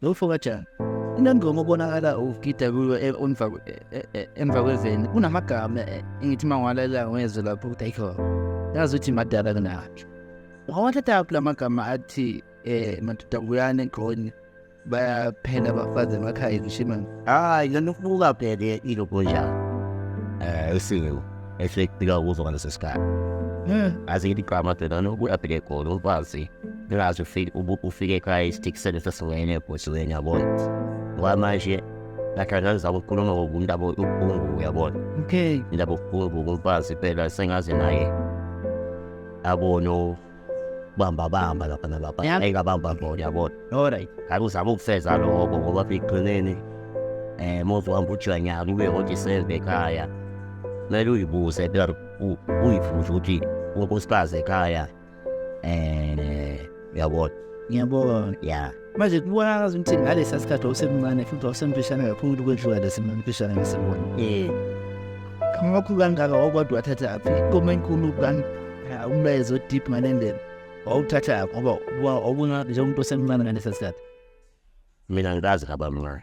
Lo mfo kajani unengoma obonakala ugida kuyo e, e, e, emva kweveni kunamagama engithi uma ngiwalalela ngezwe lapho ukuthi ayikho yazi ukuthi madala kunatsho ngawathathaphi la magama athi um madoda kuyani egqoni bayaphela abafazi emakhaya ngisho imani hhayi lona ukubuka phele ilogoyana um esingeku ehlekika kuzo ngalesi sikhathi eh. azithi igama dona nokuya bheke egolo ukwazi ngazi ufike ufike ekhaya isitikisele sesiwene ebhosiweni yabona ngoba manje ngahlala ngizama ukukhuluma ngokumuntu abo ubuhlungu uyabona okay indaba ubuhlungu kumfazi phela sengaze naye abono bamba bamba lapha nalapha Yap. engabamba bo yabona alright ngabe uzama ukufeza lokho ngoba ekugcineni um mozohamba ujanyaka ube kodwa isenze ekhaya kumele uyibuze phela u- uyifuze ukuthi unkosikazi ekhaya um uyabona ngiyabona ya manje kubonakala ukuthi ngalesa sikhathi wawusemncane futhi wawusemfishane kakhulu kwedlula lesimfishane ngesibona ngakho kangaka wawukodwa wathatha aphi ikoma enkulu kani umlayezo odeep ngale ndlela wawuthatha ngoba wawubona njengomuntu osemncane ngalesa sikhathi mina ngikazi ngabamncane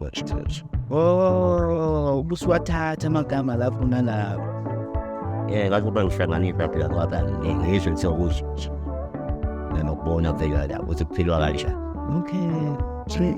Wathatha. Oh, ubusuwathatha amagama lapho nalapho. Eh, kathi uba ngihlanganisa phela ngoba ngizwe nje ukuthi nanokubona phela la ukuthi kuphilwa kanjani. Okay. Sweet.